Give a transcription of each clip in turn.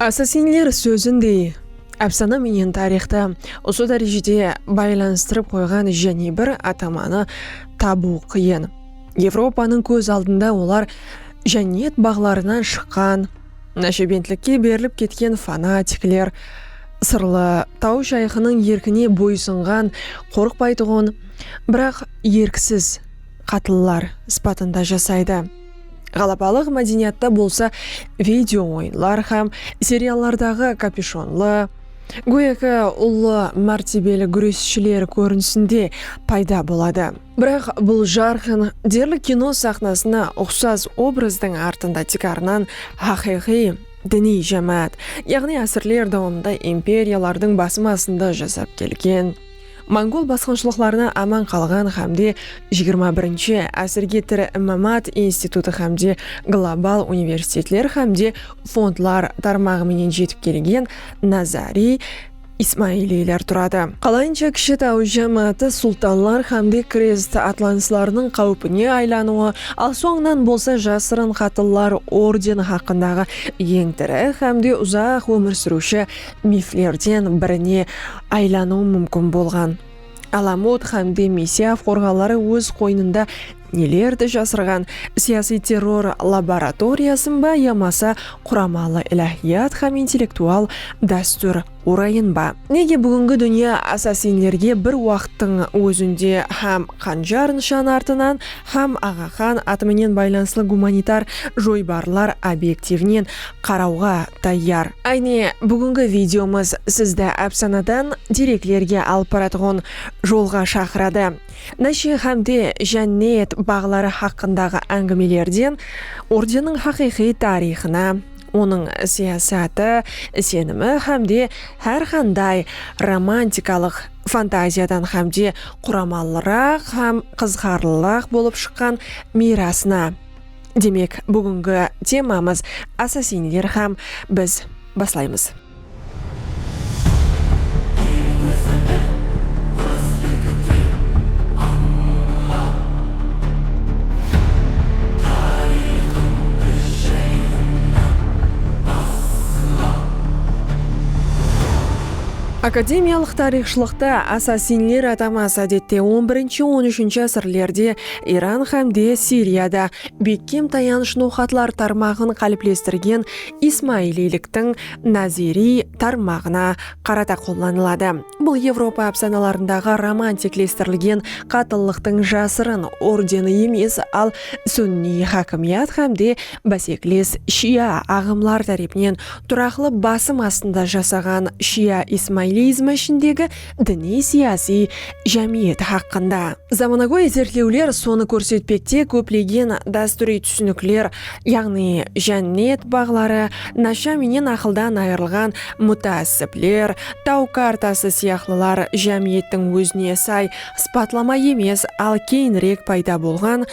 Assasinler sózindey, ápsana menen tariyxtı usı dárejede baylanıstırıp qoyǵan jáne bir atamanı tabıw qıyın. Evropanıń kóz aldında olar jánniyet baǵlarınan shıqqan, náshebentlikke berilip ketken fanatikler, sırlı taw shayxınıń erkine boysınǵan, qorıqpaytuǵın, biraq erksiz qatlılar sıpatında jasaydı. Ǵalabalıq mádeniyatta bolsa video oyınlar hám seriallardaǵı kapyushonlı, góyaki ullı mártebeli gúresshiler kórinisinde payda boladı. Biraq bul jarqın, derli kino saxnasına uqsas obrazdıń artında tiykarınan haqıyqıy diniy jámáát, yaǵnıy ásirler dawamında imperiyalardıń basım astında jasap kelgen, Mongol basqınshılıqlarınan aman qalǵan hámde jigirma birinshi ásirge tiri mámat institutı hámde global universitetler hámde fondlar tarmaǵı menen jetip kelgen Nazariy Ismailiyler turadı. Qalayınsha kishi taw jámááti sultanlar hámde krest atlanıslarınıń qáwipine aylanıwı, al sońınan bolsa jasırın qatıllar ordeni haqqındaǵı eń tiri hámde uzaq ómir súriwshi miflerden birine aylanıwı múmkin bolǵan. Alamut hámde Misiya forqaları óz qoynında nelerdi jasırǵan, siyasiy terror laboratoriyasın ba yamasa quramalı iláhiyat hám intellektual dástúr orayın ba? Nege búgingi dúnya assasinlerge bir waqıttıń ózinde hám qanjar nıshan artınan, hám Aǵaqan atı menen baylanıslı gumanitar joybarlar obektivinen qarawǵa tayyar. Áne, búgingi videomız sizdi ápsanadan dereklerge alıp baratuǵın jolǵa shaqıradı. Nashir hámde jánnet baǵları haqqındaǵı ángimelerden Urdenniń haqıyqıy tariyxına, onıń siyasatı, isenimi hámde hár qanday romantikalıq fantaziyadan hámde quramalıraq hám qızıqarlıraq bolıp shıqqan miyrasına, Demek, búgingi temamız Assassinler hám biz baslaymız. Akademiyalıq tariyxshılıqta Assassinler ataması ádette on birinshi-on úshinshi ásirlerde Iran hám de Siriyada bekkem tayanısh noqatlar tarmaǵın qáliplestirgen ismailiyliktiń naziriy tarmaǵına qarata qollanıladı. Bul Evropa ápsanalarındaǵı romantiklestirilgen qatıllıqtıń jasırın ordeni emes, al sunniy hákimiyat hám de básekiles shia aǵımlar tárepinen turaqlı basım astında jasaǵan shia ismailiyizmi ishindegi diniy-siyasiy jámiyet haqqında. Zamanagóy izertlewler sonı kórsetpekte, kóplegen dástúriy túsinikler, yaǵnıy jánnet baǵları, nasha menen aqıldan ayırılǵan mutaassibler, taw kartası sıyaqlılar jámiyettiń ózine say sıpatlama emes, al keyinirek payda bolǵan,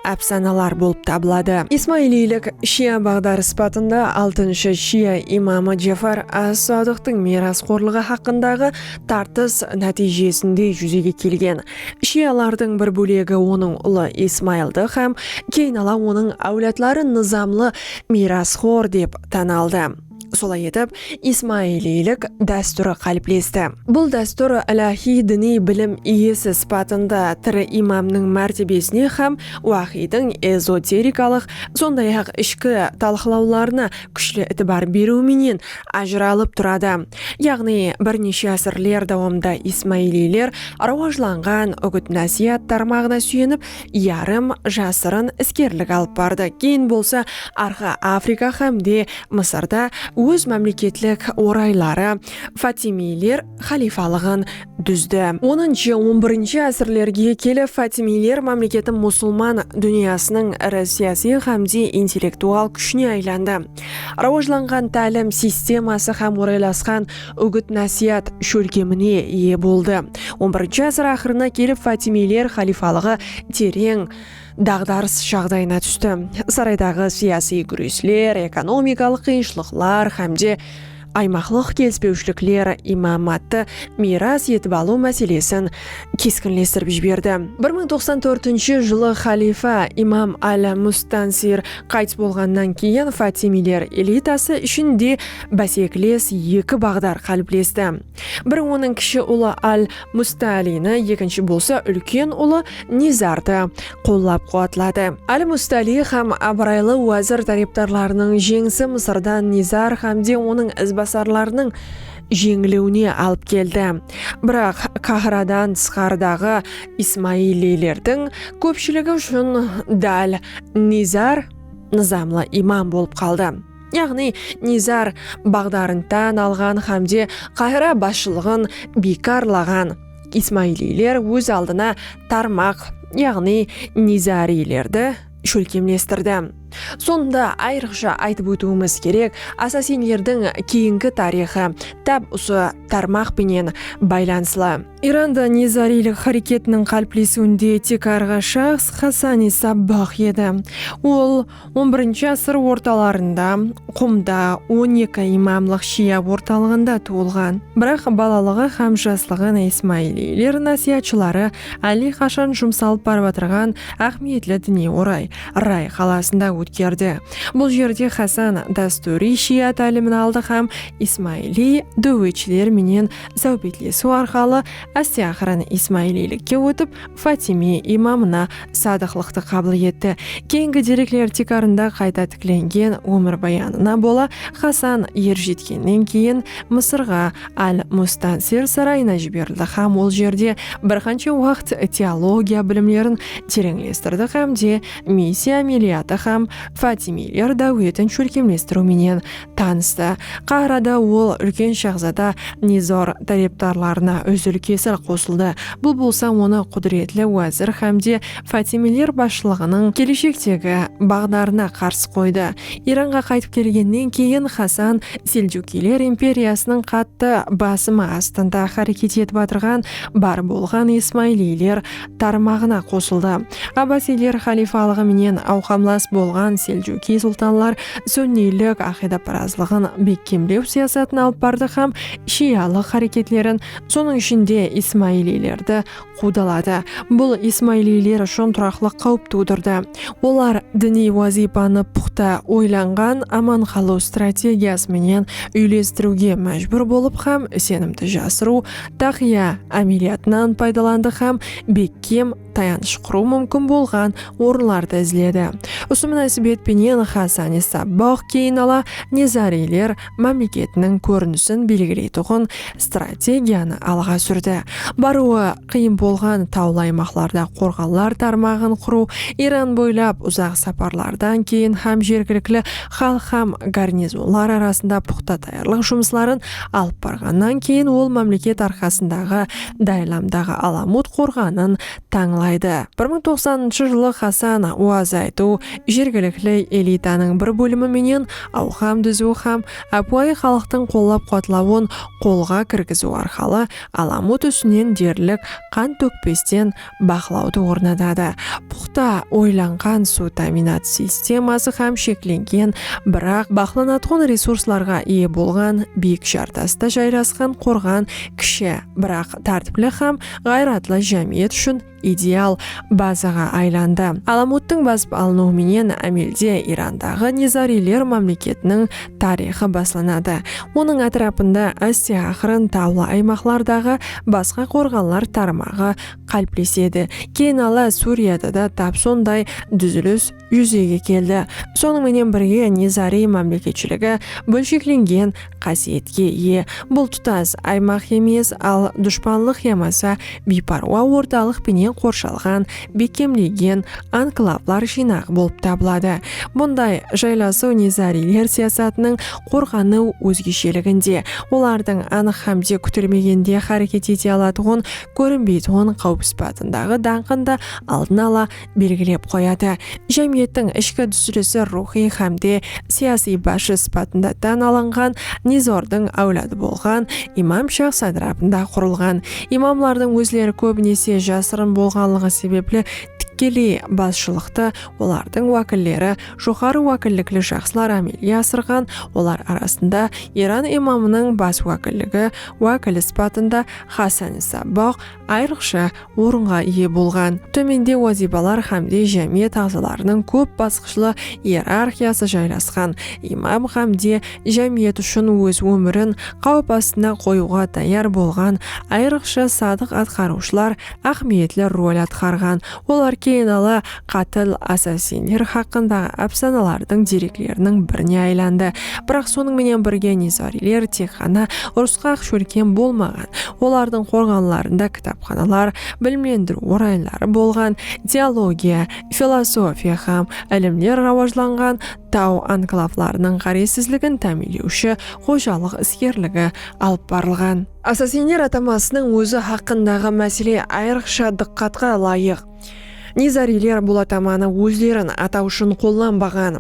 ápsanalar bolıp tabıladı. Ismailiylik shia baǵdarı sıpatında altınshı shia imamı Jafar as-Sodiqtıń miyrasxorlıǵı haqqındaǵı tartıs nátiyjesinde júzege kelgen. Shialardıń bir bólegi onıń ulı Ismaildı hám keyin ala onıń áwladları nızamlı miyrasxor dep tan aldı. Solay etip, ismailiylik dástúri qáliplesti. Bul dástúr iláhiy diniy bilim iyesi sıpatında tiri imamnıń mártebesine hám wáxiydiń ezoterikalıq, sonday-aq, ishki talqılawlarına kúshli itibar beriw menen ajıralıp turadı. Yaǵnıy, bir neshe ásirler dawamında ismailiyler rawajlanǵan úgit-násiyat tarmaǵına súyenip, yarım jasırın iskerlik alıp bardı, keyin bolsa Arqa Afrika hám de Mısırda óz mámleketlik orayları Fatimiyler xalifalıǵın dúzdi. Onınshı, on birinshi ásirlerge kelip Fatimiyler mámleketi musılman dúnyasınıń iri siyasiy hám de intellektual kúshine aylandı. Rawajlanǵan tálim sisteması hám oraylasqan úgit-násiyat shólkemine iye boldı. On birinshi ásir aqırına kelip Fatimiyler xalifalıǵı tereń daǵdarıs jaǵdayına tústi. Saraydaǵı siyasiy gúresler, ekonomikalıq qıyınshılıqlar hám de aymaqlıq kelispewshilikler imámattı miyras etip alıw máselesin keskinlestirip jiberdi. Bir mıń toqsan tórtinshi jılı xalifa Imam al-Mustansir qaytıs bolǵannan keyin Fatimiyler elitası ishin de básekles eki baǵdar qáliplesti. Biri onıń kishi ulı Al-Mustaalini, ekinshi bolsa úlken ulı Nizardı qollap-quwatladı. Al-Mustaali hám abıraylı wázir tárepdarlarınıń jeńisi Mısırda Nizar hámde onıń izbasarlarınıń jeńiliwine alıp keldi. Biraq Kahradan tısqarıdaǵı ismailiylerdiń kópshiligi ushın dál Nizar nızamlı imam bolıp qaldı. yaǵnıy Nizar baǵdarın tán alǵan hámde Qahira basshılıǵın biykarlaǵan ismailiyler óz aldına tarmaq, yaǵnıy nizariylerdi shólkemlestirdi. Sonda ayrıqsha aytıp ótiwimiz kerek, asasinlerdiń keyingi tariyxı táp usı tarmaq penen baylanıslı. Iranda nizariylik háreketiniń qáliplesiwinde tiykarǵı shaxs Xasani Sabbah edi. Ol. On birinshi asır ortalarında Qumda on eki imamlıq shia ortalıǵında tuwılǵan. Biraq balalıǵı hám jaslıǵın ismailiyler násiyatshıları álle qashan jumsalıp baratırǵan áhmiyetli diniy oray Ray qalasında ótkerdi. Bul jerde Hasan dástúriy shia tálimin aldı hám ismailiy dáwetshiler menen sáwbetlesiw arqalı áste-aqırın ismailiylikke ótip, Fatimiy imamına sadıqlıqtı qabıl etti. Keyingi derekler tiykarında qayta tiklengen ómirbayanına bola Hasan er jetkennen keyin Mısırǵa, al-Mustansir sarayına jiberildi hám ol jerde bir qansha waqt teologiya bilimlerin tereńlestirdi hám de Misiy ámeliyatı hám Fatimiyler dáwetin shólkemlestiriw menen Tanıstı. Qahrada ol úlken shahzada Nizor tárepdarlarına úzil-kesil qosıldı, bul bolsa onı qúdiretli wázir hámde Fátimiler basshılıǵınıń keleshektegi baǵdarına qarsı qoydı. Iranǵa qaytıp kelgennen keyin Hasan Seljukiyler imperiyasınıń qattı basımı astında háreket etip atırǵan bar bolǵan ismailiyler tarmaǵına qosıldı. Abbasiyler xalifalıǵı menen awqamlas bolǵan Seljukiy sultanlar sunniylik aqıydaparazlıǵın bekkemlew siyasatın alıp bardı hám shiyalıq háreketlerin, sonıń ishinde ismailiylerdi quwdaladı. Bul ismailiyler ushın turaqlıq qáwip tuwdırdı. Olar diniy wazıypanı puxta oylanǵan aman qalıw strategiyası menen úylestiriwge májbúr bolıp hám isenimdi jasırıw Táqiya ámeliyatınan paydalandı hám bekkem tayanısh qurıw múmkin bolǵan orınlardı izledi. Usı múnásibet penen Hasani Sabbah keyin ala Nezariyler mámleketiniń kórinisin belgileytuǵın strategiyanı alǵa súrdi. Barıwı qıyın bolǵan tawlı aymaqlarda qorǵanlar tarmaǵın qurıw, Iran boylap uzaq saparlardan keyin hám jergilikli xalıq hám garnizonlar arasında puqta tayarlıq jumısların alıp barǵannan keyin ol mámleket arqasındaǵı Daylamdaǵı Alamut qorǵanın tańlaydı. Bir mıń toqsanınshı jılı Xasan Uazaytu jergilikli elitanıń bir bólimi menen awqam dúziw hám ápiwayı xalıqtıń qollap-quwatlawın qolǵa kirgiziw arqalı Alamut ústinen derlik qan tókpesten baqlawdı ornatadı, puqta oylanǵan suw támiynat sisteması hám sheklengen, biraq baqlanatuǵın resurslarǵa iye bolǵan biyik jartasta jaylasqan qorǵan kishi, biraq tártipli hám ǵayratlı jámiyet ushın ideal bazaǵa aylandı. Alamuttıń basıp alınıwı menen ámelde Irandaǵı Nizariyler mámleketiniń tariyxı baslanadı. Onıń átirapında áste aqırın tawlı aymaqlardaǵı basqa qorǵanlar tarmaǵı qáliplesedi. Keyin ala Súriyada da tap sonday dúzilis júzege keldi. Sonıń menen birge Nizariy mámleketshiligi bólsheklengen qásiyetke iye. Bul tutas aymaq emes, al dushpanlıq yamasa biyparwa ortalıq penen qorshalǵan bekkemlegen anklavlar jıynaǵı bolıp tabıladı. Bunday jaylasıw nizariyler siyasatınıń qorǵanıw ózgesheliginde, olardıń anıq hámde kútilmegende háreket ete alatuǵın kórinbeytuǵın qáwip sıpatındaǵı dańqın da aldın ala belgilep qoyadı. Jámiyettiń ishki dúzilisi ruwxıy hámde siyasiy basshı sıpatında tán alınǵan Nizordıń áwladı bolǵan Imam Shah sátirapında qurılǵan Imamlardıń ózleri kóbinese jasırın bolǵanlıǵı sebepli tikkeley basshılıqtı olardıń wákilleri, joqarı wákillikli shaxslar ámelge asırǵan, olar arasında Iran imamınıń bas wákilligi wákili sıpatında Xasani Sabboq ayrıqsha orınǵa iye bolǵan. Tómende wazıypalar hámde jámiyet aǵzalarınıń kóp basqıshlı ierarxiyası jaylasqan imam hámde jámiyet ushın óz ómirin qáwip astına qoyıwǵa tayar bolǵan ayrıqsha sadıq atqarıwshılar áhmiyetli rol atqarǵan, olar keyin ala qátil assassinler haqqındaǵı ápsanalardıń derekleriniń birine aylandı. Biraq sonıń menen birge Nizariyler tek ǵana urısqa-aq shólkem bolmaǵan, olardıń qorǵanlarında kitapxanalar, bilimlendiriw oraynları bolǵan, teologiya, filosofiya hám ilimler rawajlanǵan, Taw anklavlarınıń ǵárezsizligin támiyinlewshi xojalıq iskerligi alıp barılǵan. Assassinler atamasınıń ózi haqqındaǵı másele ayırıqsha dıqqatqa ılayıq. Nizariyler bul atamanı ózlerin ataw ushın qollanbaǵan.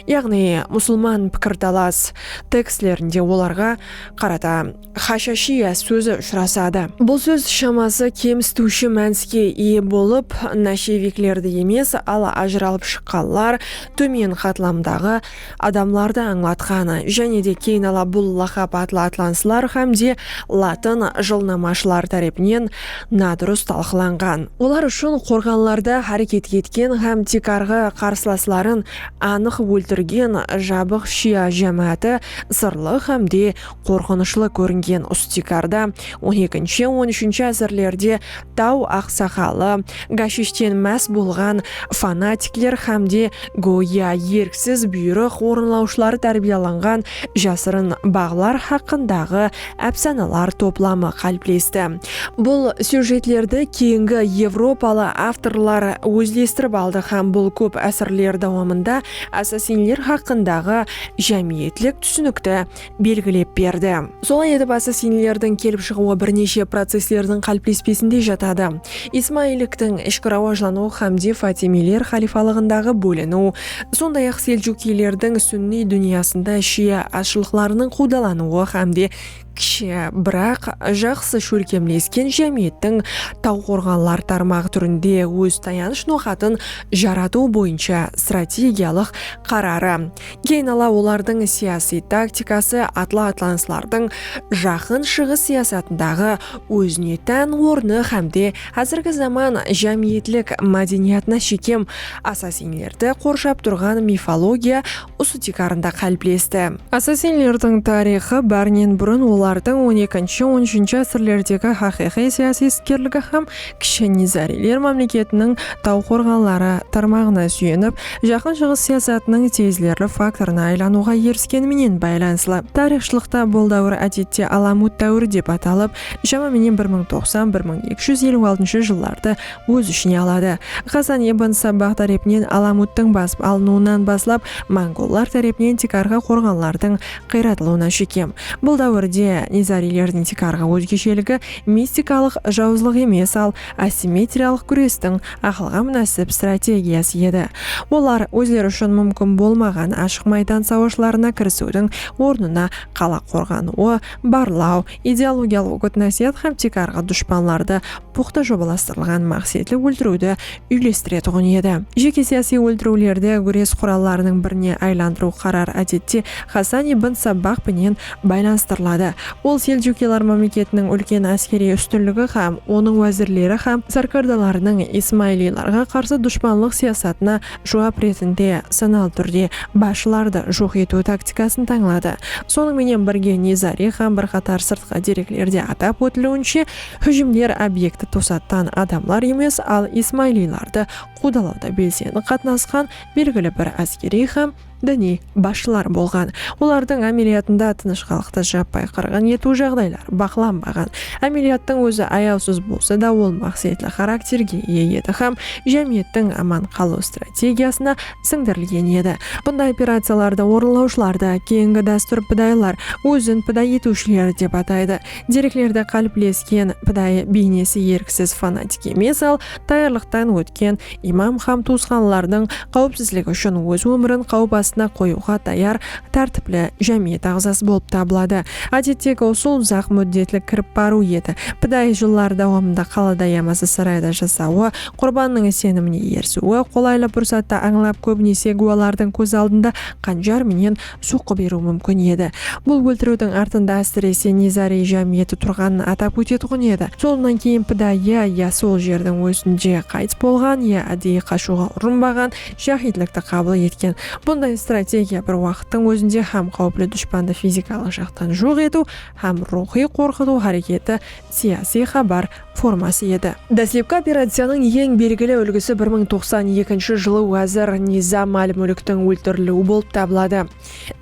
Yaǵnıy, Musılman pikirtalas tekstlerinde olarǵa qarata Xashashiya sózi ushırasadı. Bul sóz shaması kemsitiwshi mániske iye bolıp, nasheviklerdi emes, al ajıralıp shıqqanlar, tómen qatlamdaǵı adamlardı ańlatqan. Jáne de keyin-ala bul laqap atlı atlanıslar hám de latın jılnamashıları tárepinen nadurıs talqılanǵan. Olar ushın qorǵanlarda háreket etken hám tiykarǵı qarsılasların anıq óltirgen jabıq shia jámááti sırlı hám de Qorqınıshlı kóringen Ustikarda on ekinshi, on úshinshi ásirlerde taw aqsaqalı, gashishten más bolǵan fanatikler hám de góya erksiz buyrıq orınlawshıları tárbiyalanǵan jasırın baǵlar haqqındaǵı ápsanalar toplamı qáliplesti. Bul syujetlerdi keyingi evropalı avtorlar ózlestirip aldı hám bul kóp ásirler dawamında assasinler haqqındaǵı jámiyetlik túsinikti belgilep berdi. Solay etip asıl sinilerdiń kelip shıǵıwı bir neshe processlerdiń qáliplespesinde jatadı, ismailliktiń ishki rawajlanıwı xámde fatimiyler xalifalıǵındaǵı bóliniw, sonday-aq seljukiylerdiń súnniy dúnyasında shia azshılıqlarınıń quwdalanıwı xámde kishi, biraq jaqsı shólkemlesken jámiyettiń tawqorǵanlar tarmaǵı túrinde óz tayanısh noqatın jaratıw boyınsha strategiyalıq qararı. Keyin ala olardıń siyasiy taktikası atlı-atlanıslardıń Jaqın Shıǵıs siyasatındaǵı ózine tán ornı hámde házirgi zaman jámiyetlik mádeniyatına shekem assasinlerdi qorshap turǵan mifologiya usı tiykarında qáliplesti. Assasinlerdiń tariyxı bárinen burın olardıń on ekinshi-on úshinshi ásirlerdegi haqıyqıy siyasiy iskerligi hám Kishi Nizariyler mámleketiniń taw qorǵanları tarmaǵına súyenip, Jaqın Shıǵıs siyasatınıń tezlerli faktorına aylanıwǵa erisken menen baylanıslı. Tariyxshılıqta bul dáwir ádette Alamut dáwiri dep atalıp, shama menen bir mıń toqsan, bir mıń eki júz eliw altınshı jıllardı óz ishine aladı. Xasan ibn Sabbah tárepinen Alamuttıń basıp alınıwınan baslap, mongollar tárepinen tiykarǵı qorǵanlardıń Qıyratlı ona shekem. Bul dáwirde nizariylerdiń tiykarǵı ózgesheligi mistikalıq jawızlıq emes, al assimetriyalıq gúrestiń aqılǵa múnásip strategiyası edi. Olar ózleri ushın múmkin bolmaǵan ashıq maydan sawashlarına kirisiwdiń ornına qala qorǵanıwı, barlaw, Ideologiyalıq úgit-násiyat hám tiykarǵı dushpanlardı puxta jobalastırılǵan maqsetli óltiriwdi úylestiretuǵın edi. Jeke siyasiy óltiriwlerdi gúres qurallarınıń birine aylandırıw qarar ádette Xasan ibn Sabbah penen baylanıstırıladı. Ol Seljukiylar mámleketiniń úlken áskeriy ústinligi hám onıń wázirleri hám sárkardalarınıń ismailiylarǵa qarsı dushpanlıq siyasatına juwap retinde sanalı túrde basshılardı joq etiw taktikasın tańladı. Sonıń menen birge Nizari hám bir qatar sırtqı dereklerde atap ótiliwinshe, hújimler obyekti tosattan adamlar emes, al ismaylilardı quwdalawda belsendi qatnasqan belgili bir áskeriy hám diniy basshılar bolǵan, olardıń ámeliyatında tınıshqanlıqtı jappay qırǵın etiw jaǵdayları baqlanbaǵan. Ámeliyattıń ózi ayawsız bolsa da, ol maqsetli xarakterge iye edi hám jámiyettiń aman qalıw strategiyasına sińdirilgen edi. Bunday operaciyalardı orınlawshılardı keyingi dástúr pidayılar, ózin piday etiwshiler, dep ataydı. Dereklerde qáliplesken pidayı beynesi erksiz fanatik emes, al, tayarlıqtan ótken, Imam hám tuwısqanlarınıń qáwipsizligi ushın óz ómirin qáwip astına qoyıwǵa tayar tártipli jámiyet aǵzası bolıp tabıladı. Ádettegi usıl uzaq múddetlik kirip barıw edi. Piday jıllar dawamında qalada yamasa sarayda jasawı, qurbannıń isenimine erisiwi, qolaylı pursattı ańlap, kóbinese gúwalardıń kóz aldında qanjar menen soqqı beriw múmkin edi. Bul óltiriwdiń artında ásirese Nizariy jámiyeti turǵanın atap ótetuǵın edi. Sonnan keyin pidayı ya sol jerdiń ózinde qaytıs bolǵan, ya áddeyi qashıwǵa urınbaǵan jáhidlikti qabıl etken. Bunday strategiya bir waqıttıń ózinde hám qáwipli dushpandı fizikalıq jaqtan joq etiw, hám ruwxıy qorqıtıw háreketi, siyasiy xabar, forması edi. Dáslepki operaciyanıń eń belgili úlgisi bir mıń toqsan ekinshi jılı wázir Nizam al-Múlktiń óltirilúi bolıp tabıladı.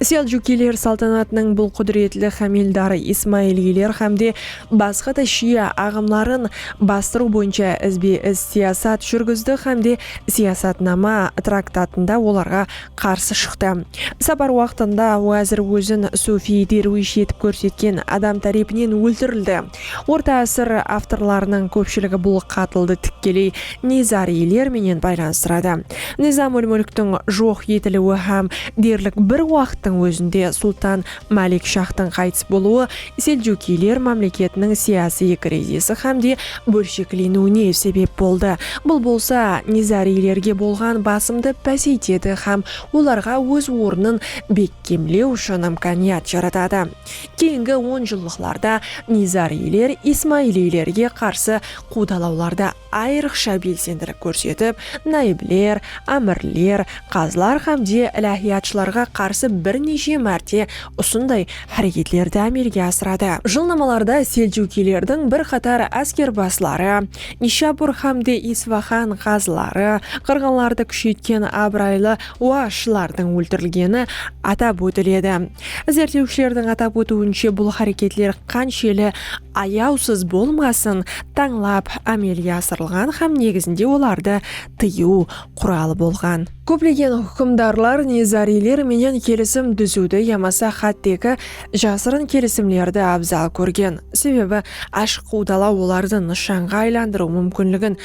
Seljukiyler saltanatınıń bul qúdiretli hámeldarı ismailiyler hámde basqa da shiya aǵımların bastırıw boyınsha izbe-iz siyasat júrgizdi hámde Siyasatnama traktatında olarǵa qarsı shıqtı. Sapar waqtında wázir ózin sufiy derwish etip kórsetken adam tárepinen óltirildi. Orta ásir avtorlarınıń kópshiligi bul qatıldı tikkeley Nizariyler menen baylanıstıradı. Nizam-ul-Múlktiń joq etiliwi hám derlik bir waqıttıń ózinde Sultan Malik Shahtıń qaytıs bolıwı Seljukiyler mámleketiniń siyasiy krizisi hám de bólshekleniwine sebep boldı, bul bolsa Nizariylerge bolǵan basımdı páseytedi hám olarǵa óz ornın bekkemlew ushın imkaniyat jaratadı. Keyingi onjıllıqlarda nizariyler ismailiylerge qarsı quwdalawlarda ayrıqsha belsendilik kórsetip, nayibler, ámirler, qazılar hám de ilahiyatshılarǵa qarsı bir neshe márte usınday háreketlerdi ámelge asıradı. Jılnamalarda seljukiylerdiń bir qatar áskerbasları, Nishapur hám de Isfaxan qazıları, qırǵınlardı kúsheytken abıraylı wa shılardıń óltirilgeni atap ótiledi. Izertlewshilerdiń atap ótiwinshe bul háreketler qansheli ayawsız bolmasın tańlap ámelge asırılǵan hám negizinde olardı tıyıw quralı bolǵan. Kóplegen húkimdarlar nizariyler menen kelisim dúziwdi yamasa xátteki jasırın kelisimlerdi abzal kórgen, sebebi ashıq qudalaw olardı nıshanǵa aylandırıw múmkinligin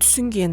túsingen.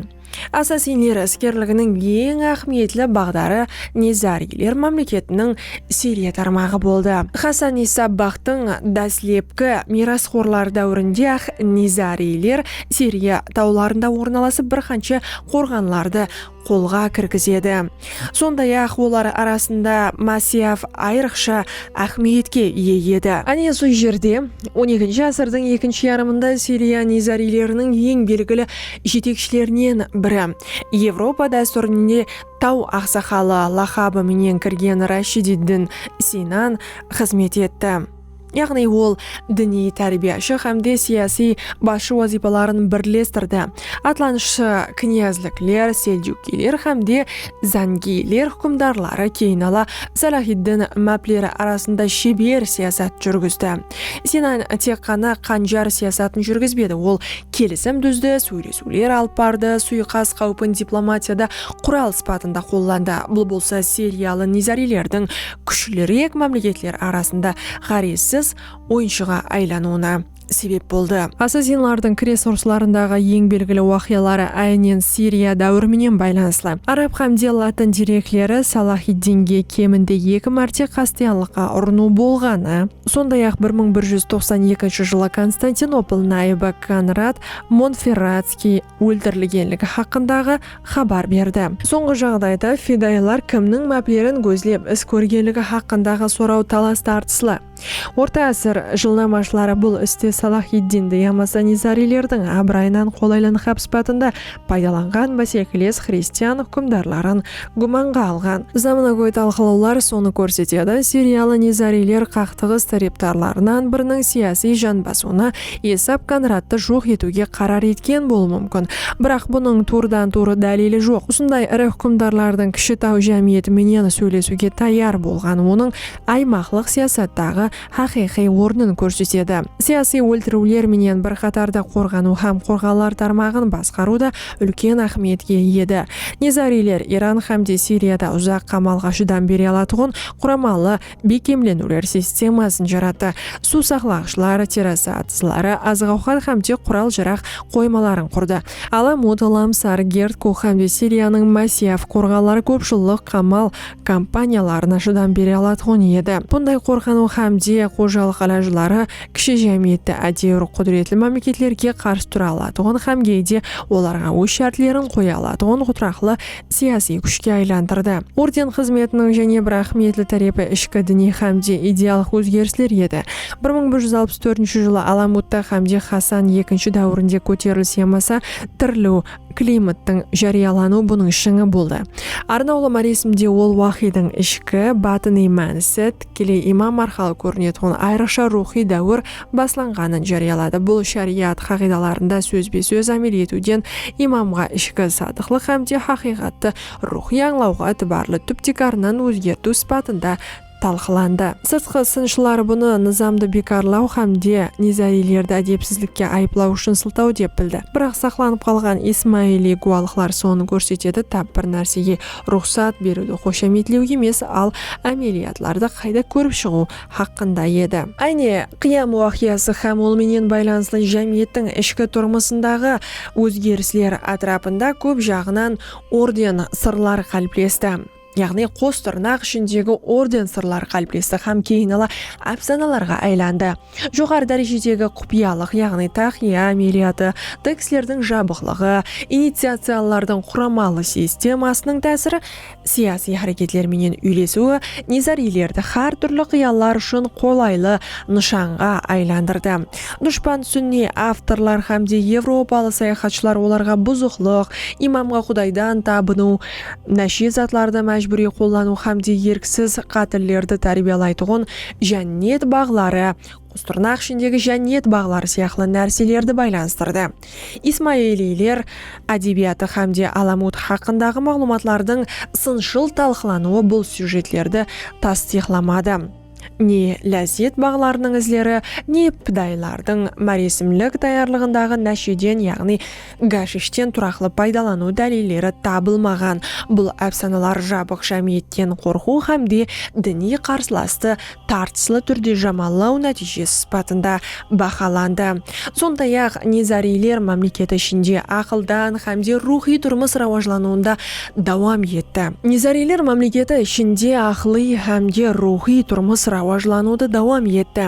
Assasinler iskerliginiń eń áhmiyetli baǵdarı Nizariyler mámleketiniń Siriya tarmaǵı boldı. Xassan-Issa Baxtıń dáslepki miyrasxorları dáwirinde-aq Nizariyler Siriya tawlarında ornalasıp bir qansha qorǵanlardı qolǵa kirgizedi. Sonday-aq, olar arasında Masiyav ayrıqsha áhmiyetke iye edi. Áne sol jerde, on ekinshi ásirdiń ekinshi yarımında Siriya nizariyleriniń eń belgili jetekshilerinen biri, Evropa dástúrine Taw aqsaqalı laqabı menen kirgen Rashidid din Sinan xızmet etti. yaǵnıy ol diniy tárbiyashı hám de siyasiy basshı wazıypaların birlestirdi, atlanıshshı knyazlikler, seljukiyler hám de zangiyler húkimdarları, keyinala Salahiddin mápleri arasında sheber siyasat júrgizdi. Sinan tek ǵana Qanjar siyasatın júrgizbedi, ol kelisim dúzdi, sóylesiw. Súler alıp bardı, suyıqas qáwpin diplomatiyada qural sıpatında qollandı, bul bolsa siriyalı nizarilerdiń kúshlirik mámleketler arasında ǵárezsiz oyınshıǵa aylanıwına sebep boldı. Assasinlardıń kres urıslarındaǵı eń belgili waqıyaları áynen Siriya dáwiri menen baylanıslı. Arab qámde latın derekleri Salahiddinge keminde eki márte qastıyanlıqqa urınıw bolǵanı, sonday-aq bir mıń bir júz toqsan ekinshi jılı Konstantinopol nayıbı Konrad Montferratskiy óltirilgenligi haqqındaǵı xabar berdi. Sońǵı jaǵdayda fidayılar kimniń máplerin gózlep is kórgenligi haqqındaǵı soraw talas-tartıslı. Orta ásir jılnamashıları bul iste Salahiddindi yamasa Nizariylerdiń abırayınan qolaylanǵabsıpatında paydalanǵan básekiles xristian húkimdarların gúmanǵa alǵan. Zamanagóy talqılawlar sonı kórsetedi, siriyalı nizariyler qaqtıǵıs tárepdarlarınan biriniń siyasiy jan basıwına Esab Konrattı joq etiwge qarar etken bolıwı múmkin. Biraq bunıń tuwrıdan-tuwrı dálili joq. Usınday iri húkimdarlardıń kishi taw jámiyeti menen sóylesiwge tayar bolǵan onıń aymaqlıq siyasattaǵı haqıyqıy ornın kórsetedi. Siyasıy óltiriwler menen bir qatarda qorǵanıw hám qorǵawlar tarmaǵın basqarıw da úlken áhmiyetke iyedi. Nizariyler Iran hám de Siriyada uzaq qamalǵa shıdam bere alatuǵın quramalı bekkemleniwler sistemasın jarattı, suw saqlaǵıshlar, terrasa atızları, azıq-awqat hám de qural-jaraq qoymaların qurdı. Alam-Ot, Lamsar, Gerd-Kuh hám de Siriyanıń Masiyaf qorǵanları kóp jıllıq qamal kompaniyalarına shıdam bere alatuǵın edi. Bunday qorqanıw hám de xojalıq ilajları kishi jámiyetti ádewir qúdiretli mámleketlerge qarsı tura alatuǵın hám geyde olarǵa óz shártlerin qoya alatuǵın qudıraqlı siyasiy kúshke aylandırdı. Orden xızmetiniń jáne bir áhmiyetli tárepi ishki diniy hám de idealıq ózgerisler edi. Bir mıń bir júz alpıs tórtinshi jılı Alamutta hám de Xasan ekinshi dáwirinde kóterilis yamasa tiriliw, Klimattıń járiyalanıwı bunıń shıńı boldı. Arnawlı maresimde ol waqıydıń ishki, batınıy mánisi, tikkeley imam arqalı kórinetuǵın ayrıqsha ruwxıy dáwir baslanǵanın járiyaladı. Bul shariyat qaǵıydalarında sózbe-sóz ámel etiwden imamǵa ishki sadıqlıq hámde haqıyqattı ruwxıy ańlawǵa itibarlı túp-tiykarınan ózgertiw sıpatında talqılandı. Sırtqı sınshılar bunı nızamdı biykarlaw hám de nizariylerdi ádepsizlikke ayıplaw ushın sıltaw dep bildi. Biraq saqlanıp qalǵan ismailiy gúwalıqlar sonı kórsetedi, tap bir nársege ruxsat beriwdi xoshametlew emes, al ámeliyatlardı qayda kórip shıǵıw haqqında edi. Áyne, Qıyam waqıyası hám ol menen baylanıslı jámiyettiń ishki turmısındaǵı ózgerisler átirapında kóp jaǵınan orden, sırlar qáliplesti. yaǵnıy qos tırnaq ishindegi orden sırlar qáliplesti hám keyin ala ápsanalarǵa aylandı. Joqarı dárejedegi qupıyalıq, yaǵnıy taqıya ámeliyatı, tekstlerdiń jabıqlıǵı, iniciatsiyalılardıń quramalı sistemasınıń tásiri, siyasiy háreketler menen úylesiwi Nizariylerdi hár túrli qıyallar ushın qolaylı nıshanǵa aylandırdı. Dushpan súnniy avtorlar hám de evropalı sayaxatshılar olarǵa buzıqlıq, imamǵa qudaydan tabınıw, Náshe zatlardı májbúriy qollanıw hámde erksiz qátillerdi tárbiyalaytuǵın jánnet baǵları, qostırnaq ishindegi jánnet baǵları sıyaqlı nárselerdi baylanıstırdı. Ismailiyler ádebiyatı hámde Alamut haqqındaǵı maǵlıwmatlardıń sınshıl talqılanıwı bul syujetlerdi tastıyıqlamadı. Ne lázzet baǵlarınıń izleri, ne pidayılardıń máresimlik tayarlıǵındaǵı násheden yaǵnıy gashishten turaqlı paydalanıw dálilleri tabılmaǵan. Bul ápsanalar jabıq jámiyetten qorqıw hám de diniy qarsılastı tartıslı túrde jamallaw nátiyjesi sıpatında bahalandı. Sonday-aq, nezariyler mámleket ishinde aqıldan hám de ruwxıy turmıs rawajlanıwında dawam etti. Nezariyler mámleketi ishinde aqılıy hám de ruwxıy turmıs rawajlanıwdı dawam etti.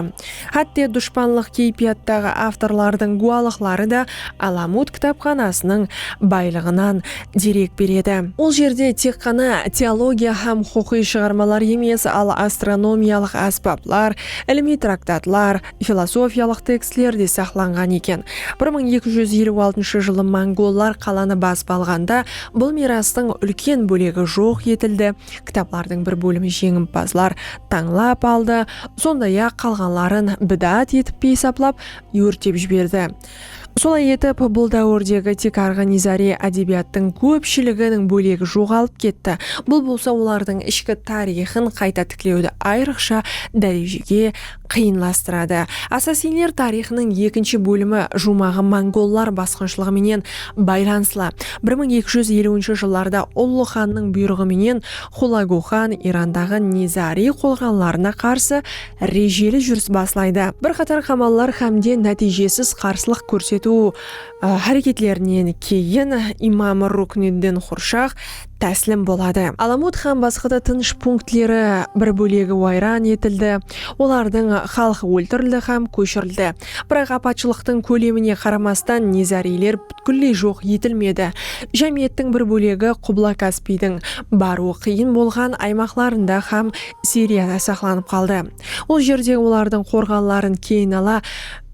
Hátte, dushpanlıq keypiyattaǵı avtorlardıń gúwalıqları da Alamut kitapxanasınıń baylıǵınan derek beredi. Ol jerde tek ǵana teologiya hám huqıqıy shıǵarmalar emes, al astronomiyalıq ásbaplar, ilimiy traktatlar, filosofiyalıq tekstler de saqlanǵan eken. Bir mıń eki júz eliw altınshı jılı mongollar qalanı basıp alǵanda bul miyrastıń úlken bólegi joq etildi, kitaplardıń bir bólimi jeńimpazlar tańlap aldı, sonday-aq, qalǵanların bidaat etip esaplap, órtep jiberdi. Solay etip, bul dáwirdegi tiykarǵı nizariy ádebiyattıń kópshiliginiń bólegi joǵalıp ketti, bul bolsa olardıń ishki tariyxın qayta tiklewdi ayrıqsha dárejege qıyınlastıradı. Assassinler tariyxınıń ekinshi bólimi juwmaǵı mongollar basqınshılıǵı menen baylanıslı. Bir mıń eki júz eliwinshi jıllarda Ullı xannıń buyrıǵı menen Xulagu xan Irandaǵı nizariy qolǵanlarına qarsı rejeli júris baslaydı. Bir qatar qamallar hámde nátiyjesiz qarsılıq kórsetiw háreketlerinen keyin imam Rukniddin Xurshaq táslim boladı. Alamut hám basqada tınısh punktleri bir bólegi wayran etildi, olardıń xalqı óltirildi hám kóshirildi. Biraq apatshılıqtıń kólemine qaramastan nizariyler pútkilley joq etilmedi. Jámiyettiń bir bólegi Qubla-Kaspiydiń barıwı qıyın bolǵan aymaqlarında hám Siriyada saqlanıp qaldı. Ol jerde olardıń qorǵanların keyin ala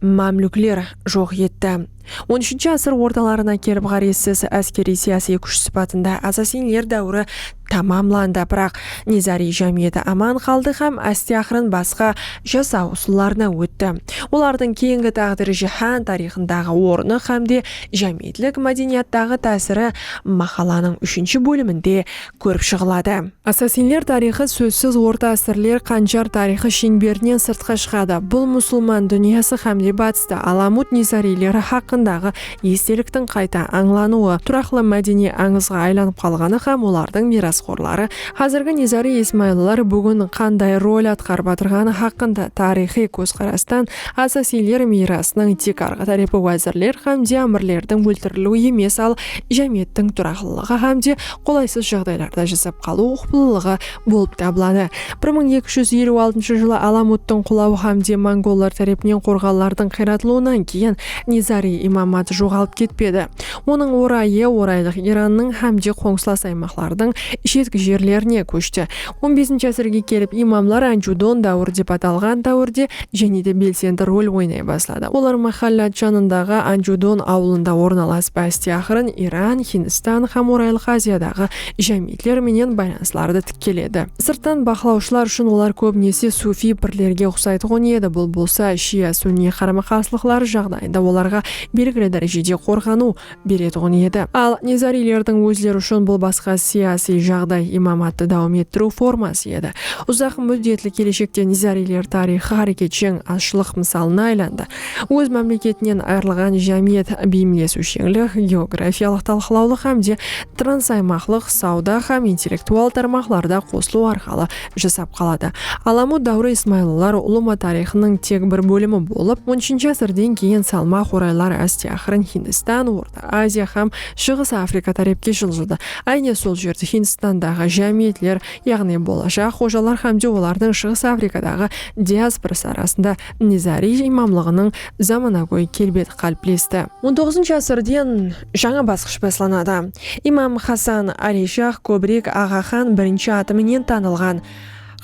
mámlúkler joq etti. On úshinshi ásir ortalarına kelip ǵárezsiz áskeriy-siyasiy kúsh sıpatında asasinler dáwiri tamamlandı, biraq nizariy jámiyeti aman qaldı hám áste-aqırın basqa jasaw usıllarına ótti. Olardıń keyingi táǵdiri jáhán tariyxındaǵı ornı hám de jámiyetlik mádeniyattaǵı tásiri maqalanıń úshinshi bóliminde kórip shıǵıladı. Assasinler tariyxı sózsiz orta ásirler Qanjar tariyxı sheńberinen sırtqa shıǵadı. Bul musılman dúnyası hámde batısta Alamut Nizariyleri haqqındaǵı esteliktiń qayta ańlanıwı, turaqlı mádeniy ańızǵa aylanıp qalǵanı hám olardıń miyrasxorları, házirgi Nizariy Ismayıllılar búgin qanday rol atqarıp atırǵanı haqqında tariyxıy kózqarastan assasinler miyrasınıń tiykarǵı tárepi wázirler hámde ámirlerdiń óltiriliwi emes al jámiyettiń turaqlılıǵı hámde qolaysız jaǵdaylarda jasap qalıw uqıplılıǵı bolıp tabıladı. Bir mıń eki júz eliw altınshı jılı Alamuttıń qulawı hám de mongollar tárepinen qorǵanlardıń qıyratılıwınan keyin Nizariy imamat joǵalıp ketpedi. Onıń orayı Oraylıq Irannıń hám de qońsılas aymaqlardıń shetki jerlerine kóshti. On besinshi ásirge kelip imamlar Anjudon dáwir dep atalǵan dáwirde jáne de belsendi rol oynay basladı. Olar máhállát janındaǵı Anjudon awılında ornalasıp áste aqırın Iran, Hindstan hám Oraylıq Aziyadaǵı jámiyetler menen baylanıslardı tikkeledi. Sırttan baqlawshılar ushın olar kóbinese sufiy pirlerge uqsaytuǵın edi, bul bolsa shia-sunniy qarama-qarsılıqları jaǵdayında olarǵa belgili dárejede qorǵanıw, beretuǵın edi. Al, nizariylerdiń ózleri ushın bul basqa siyasiy jaǵday, imamattı dawam ettiriw forması edi. Uzaq múddetli keleshekte nizariyler tariyxı háreketsheń azshılıq mısalına aylandı. Óz mámleketinen ayırılǵan jámiyet beyimlesiwsheńlik, geografiyalıq talqılawlıq hám de transaymaqlıq, sawda hám intellektual tarmaqlarda qosılıw arqalı jasap qaladı. Alamu dáwri ismaylılar ulıwma tariyxınıń tek bir bólimi bolıp, on úshinshi ásirden keyin salmaq oraylar áste-aqırın Hindistan, Orta Aziya hám Shıǵıs Afrika tárepke jıljıdı. Áyne sol jerde Hindistandaǵı jámiyetler, yaǵnıy bolajaq xojalar hámde olardıń Shıǵıs Afrikadaǵı diasporası arasında Nizariy imamlıǵınıń zamanagóy kelbeti qáliplesti. On toǵızınshı ásirden Jańa basqısh baslanadı. Imam Xasan Ali Shah kóbirek Aǵa xan birinshi atı menen tanılǵan.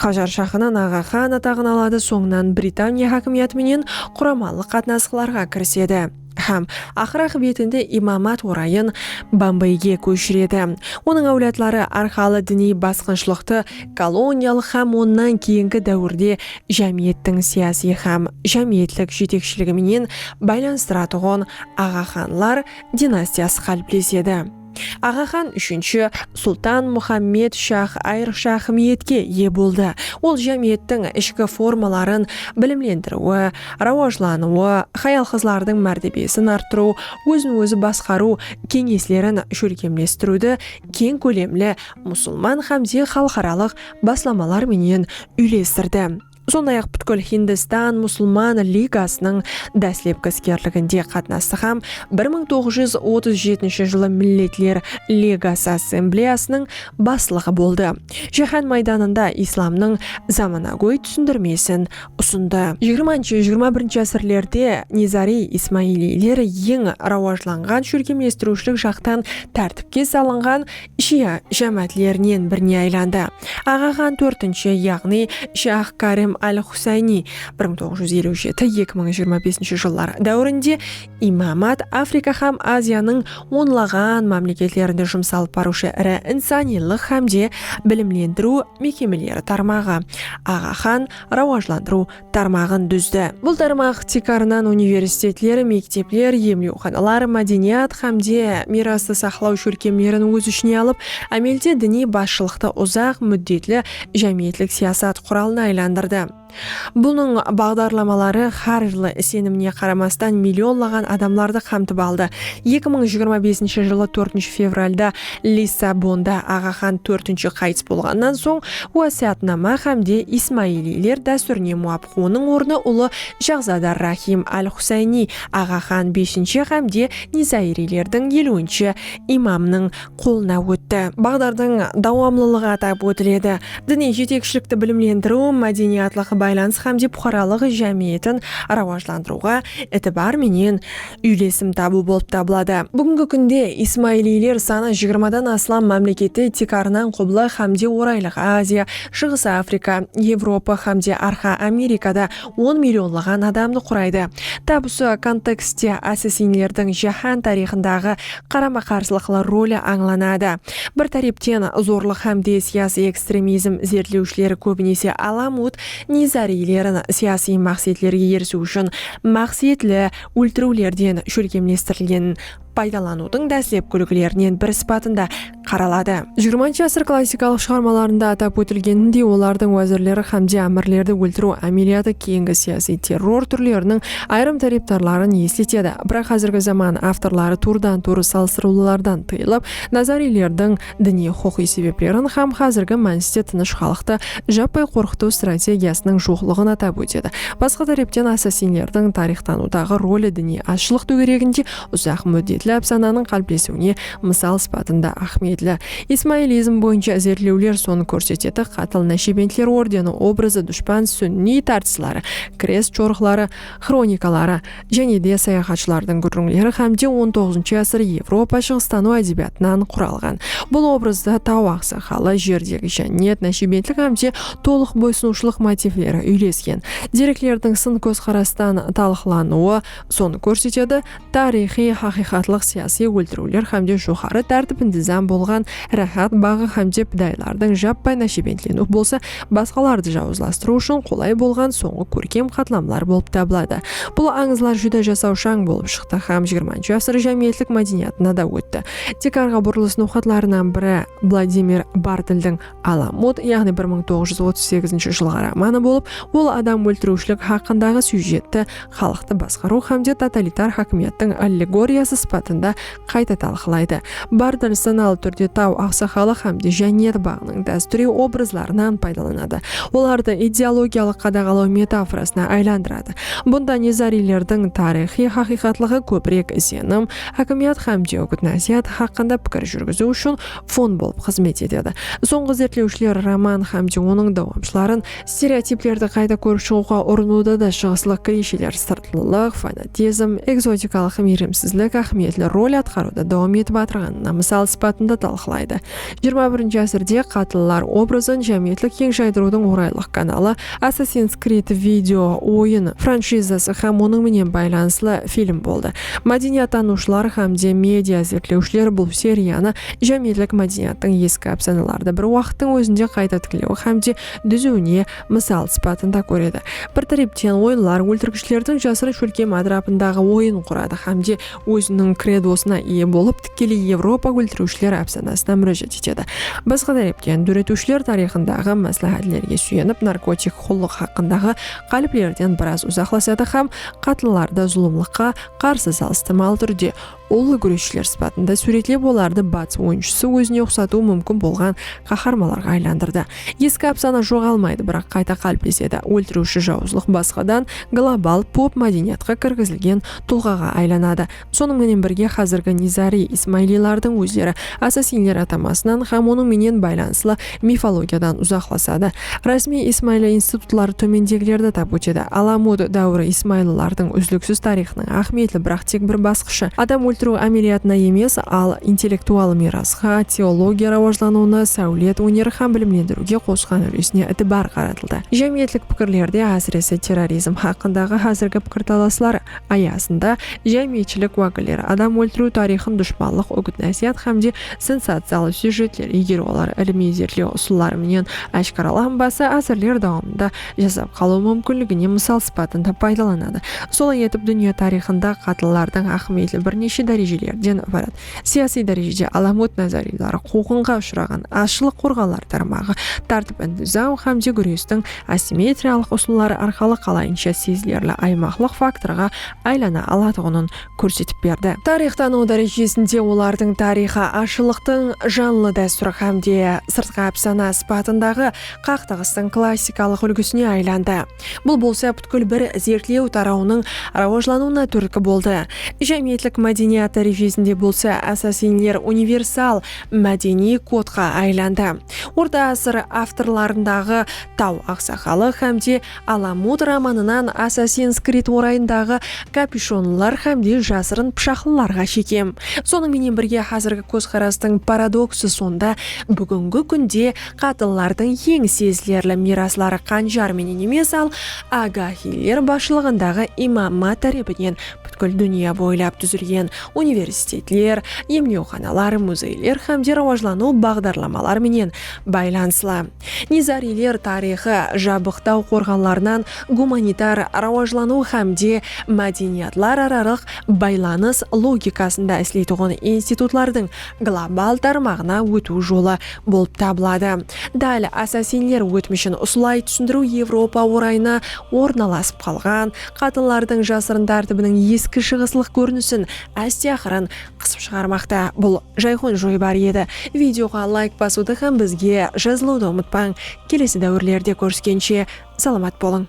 Qajar shahınan Aǵa xan ataǵın aladı, sońınan Britaniya hákimiyatı menen quramalıq qatnasıqlarǵa kirisedi hám aqır aqıbetinde imamat orayın Bombeyge kóshiredi. Onıń áwladları arqalı diniy basqınshılıqtı koloniyalıq hám onnan keyingi dáwirde jámiyettiń siyasiy hám jámiyetlik jetekshiligi menen baylanıstıratuǵın Aǵa xanlar dinastiyası qáliplesedi. Aǵa xan úshinshi Sultan Muxammed Shax ayrıqsha áhmiyetke iye boldı, ol jámiyettiń ishki formaların bilimlendiriwi, rawajlanıwı, hayal-qızlardıń mártebesin arttırıw, ózin-ózi basqarıw keńeslerin shólkemlestiriwdi keń kólemli musılman hámde xalıqaralıq baslamalar menen úylestirdi. Sonday-aq, pútkil Hindistan Musılman ligasınıń dáslepki iskerliginde qatnastı hám bir mıń toǵız júz otız jetinshi jılı Milletler Ligası Assambleyasınıń baslıǵı boldı. Jáhán maydanında islamnıń zamanagóy túsindirmesin usındı. Jigirmanshı, jigirma birinshi ásirlerde nizariy ismailiyler eń rawajlanǵan shólkemlestiriwshilik jaqtan tártipke salınǵan, Shia jámáátlerinen birine aylandı. Aǵa xan tórtinshi, yaǵnıy Shah Karim al-Xusayniy bir mıń toǵız júz eliw jeti, eki mıń jigirma besinshi jıllar dáwirinde imamat Afrika xám Aziyanıń onlaǵan mámleketlerinde jumsalıp barıwshı iri insanıylıq xámde bilimlendiriw mekemeleri tarmaǵı, Aǵa xan rawajlandırıw tarmaǵın dúzdi. Bul tarmaq tiykarınan universitetler, mektepler, emlewxanalar, mádeniyat hám de miyrastı saqlaw shólkemlerin óz ishine alıp, ámelde diniy basshılıqtı uzaq múddetli jámiyetlik siyasat quralına aylandırdı. Bunıń baǵdarlamaları hár jılı isenimine qaramastan millionlaǵan adamlardı qamtıp aldı. Eki mıń jigirma besinshi jılı tórtinshi fevralda Lissabonda Aǵaxan tórtinshi qayıs bolǵannan soń, wásiyatnama hámde ismailiyler dástúrine muwapıq onıń ornı ulı Shahzad ar-Rahim al-Husayniy Aǵaxan beshinshi hámde Nizairiylerdiń eliwinshi imamnıń qolına ótti. Baǵdardıń dawamlılıǵı atap ótiledi. Diniy jetekshilikti bilimlendiriw, mádeniyatlıq baylanıs hámde puqaralıq jámiyetin rawajlandırıwǵa itibar menen úylesim tabıw bolıp tabıladı. Búgingi kúnde ismailiyler sanı jigirmadan aslam mámlekette tiykarınan Qubla hámde Oraylıq Aziya, Shıǵıs Afrika, Evropa hámde Arqa Amerikada on millionlaǵan adamdı quraydı. Tap usı kontekstte assasinlerdiń jáhán tariyxındaǵı qarama-qarsılıqlı roli ańlanadı. Bir tárepten zorlıq hámde siyasiy ekstremizm izertlewshileri kóbinese Alamut Nizariylerin siyasiy maqsetlerge erisiw ushın maqsetli óltiriwlerden shólkemlestirilgen paydalanıwdıń dáslepki úlgilerinen biri sıpatında qaraladı. Jigirmanshı asır klassikalıq shıǵarmalarında atap ótilgenindey, olardıń wázirleri hámde ámirlerdi óltiriw ámeliyatı keyingi siyasiy terror túrleriniń ayırım tárepdarların esletedi, biraq házirgi zaman avtorları tuwrıdan-tuwrı salıstırıwlılardan tıyılıp, nazariylerdiń diniy-huqıqıy sebeplerin hám házirgi mániste tınısh xalıqtı jappay qorqıtıw strategiyasınıń joqlıǵın atap ótedi. Basqa tárepten assasinlerdiń tariyxtanıwdaǵı roli diniy azshılıq tógereginde uzaq múddetli ápsananıń qáliplesiwine mısal sıpatında áhmiyetli. Ismailizm boyınsha izertlewler sonı kórsetedi, qatıl Náshebentler ordeni obrazı dushpan súnniy tartısları, krest jorıqları, xronikaları, jáne de sayaxatshılardıń gúrrińleri hám de on toǵızıncı ásir Evropa shıǵıstanıw ádebiyatınan quralǵan bul obrazda taw aqsaqalı, jerdegi jánnet, náshebentlik hám de tolıq boysınıwshılıq motivleri úylesken. Dereklerdiń sın kózqarastan talıqlanıwı sonı kórsetedi, tariyxıy haqıyqatlıq siyasiy óltiriwler hámde joqarı tártip-intizam bolǵan Ráhát baǵı hámde pidayılardıń jappay náshebentleniw bolsa basqalardı jawızlastırıw ushın qolay bolǵan sońǵı kórkem qatlamlar bolıp tabıladı. Bul ańızlar júdá jasawshań bolıp shıqtı hám xx asır jámiyetlik mádeniyatına da ótti. Tiykarǵa burılıs noqatlarınan biri Vladimir Bartldiń. Alamut, yaǵnıy bir mıń toǵız júz otız segizinshi jılǵı romanı bolıp, ol adam óltiriwshilik haqqındaǵı syujetti xalıqtı basqarıw hámde totalitar hákimiyattıń allegoriyası sıpatında qayta talqılaydı. Bartol sanalı túrde taw aqsaqalı hámde jánniyat baǵınıń dástúriy obrazlarınan paydalanadı, olardı ideologiyalıq qadaǵalaw metaforasına aylandıradı. Bunda Nezariylerdiń tariyxıy haqıyqatlıǵı kóbirek isenım, hákimiyat hámde úgit-násiyat haqqında pikir júrgiziw ushın fon bolıp xızmet etedi. Sońǵı izertlewshiler roman hám de onıń dawamshıların stereotiplerdi qayta kórip shıǵıwǵa urınıwda da shıǵıslıq kliysheler, sırtlılıq, fanatizm, ekzotikalıq miyrimsizlik áhmiyetli rol atqarıwda dawam etip atırǵanına mısal sıpatında talqılaydı. Jigirma birinshi ásirde qatıllar obrazın jámiyetlik keń jaydırıwdıń oraylıq kanalı, Assassin's Creed video oyın franshizası hám onıń menen baylanıslı film boldı. Mádeniyattanıwshılar hám de media izertlewshiler bul seriyanı jámiyetlik mádeniyattıń eski ápsanalardı bir waqıttıń ózinde qayta tiklew hám de dúziwine mısal sıpatında kóredi. Bir tárepten, oyınlar óltirgishlerdiń jasırın shólkem átirapındaǵı oyın quradı hám de óziniń kredosına iye bolıp, tikkeley Evropa óltiriwshiler ápsanasına múrájat etedi. Basqa tárepten, dóretiwshiler tariyxındaǵı másláhátlerge súyenip, narkotik qullıq haqqındaǵı qáliplerden biraz uzaqlasadı hám qatınlardı zulımlıqqa qarsı salıstırmalı túrde ullı gúresshiler sıpatında súwretlep olardı batıs oyınshısı ózine uqsatıwı múmkin bolǵan qaharmalarǵa aylandırdı. Eski ápsana joǵalmaydı, biraq qayta qáliplesedi. Óltiriwshi jawızlıq basqadan global pop mádeniyatqa kirgizilgen tulǵaǵa aylanadı. Sonıń menen birge xázirgi nizariy ismailiylardıń ózleri asasinler atamasınan hám onıń menen baylanıslı mifologiyadan uzaqlasadı. Rásmiy ismailiy institutları tómendegilerdi atap ótedi, Alamud dáwiri ismailiylardıń úzliksiz tariyxınıń áhmiyetli biraq tek bir basqıshı, adam óltiriw ámeliyatına emes, al intellektual miyrasqa, teologiya rawajlanıwına, sáwlet, óner hám bilimlendiriwge qosqan úlesine itibar qaratıldı. aytıldı. Jámiyetlik pikirlerde, ásirese terrorizm haqqındaǵı házirgi pikirtalaslar ayasında jámiyetshilik wákilleri adam óltiriw tariyxın dushpanlıq úgit-násiyat hámde sensaciyalı syujetler, eger olar ilimiy izertlew usılları menen áshkaralanbasa, ásirler dawamında jasap qalıw múmkinligine mısal sıpatında paydalanadı. Solay etip, dúnya tariyxında qatıllardıń áhmiyetli bir neshe dárejelerden ibarat. Siyasiy dárejede alamot nazariylar quwǵınǵa ushıraǵan azshılıq qorǵanlar tarmaǵı tártip-intizam hámde gúrestiń asimmetriyalıq usılları arqalı qalayınsha sezilerli aymaqlıq faktorǵa aylana alatuǵının kórsetip berdi. Tariyx tanıw dárejesinde olardıń tariyxı azshılıqtıń janlı dástúri hámde sırtqı ápsana sıpatındaǵı qaqtaǵıstıń klassikalıq úlgisine aylandı. Bul bolsa pútkil bir zertlew tarawınıń rawajlanıwına túrtki boldı. Jámiyetlik mádeniyat dárejesinde bolsa assasinler universal mádeniy kodqa aylandı. Orta ásir avtorlarındaǵı Taw aqsaqalı hám de Alamut romanınan Assassin's Creed orayındaǵı kapyushonlılar hám de jasırın pıshaqlılarǵa shekem. Sonıń menen birge házirgi kózqarastıń paradoksı sonda búgingi kúnde Qatınlardıń eń sezilerli miyrasları qanjar menen emes, al Agahiyler basshılıǵındaǵı imamma tárepinen pútkil dúnya boylap dúzilgen universitetler, emlewxanalar, muzeyler hám de rawajlanıw baǵdarlamalar menen baylanıslı. Nizariyler tariyxı jabıq taw qorǵanlarınan gumanitar rawajlanıw hám de mádeniyatlararalıq baylanıs logikasında isleytuǵın institutlardıń global tarmaǵına ótiw jolı bolıp tabıladı. Dál assasinler ótmishin usılay túsindiriw Evropa orayına ornalasıp qalǵan qatınlardıń jasırın tártibiniń eski shıǵıslıq kórinisin áste-aqırın qısıp shıǵarmaqta. Bul jayxon joybar edi. Videoǵa layk basıwdı hám bizge jazılıwdı umıtpań. Kelesi dáwirlerde kóriskenshe salamat bolıń.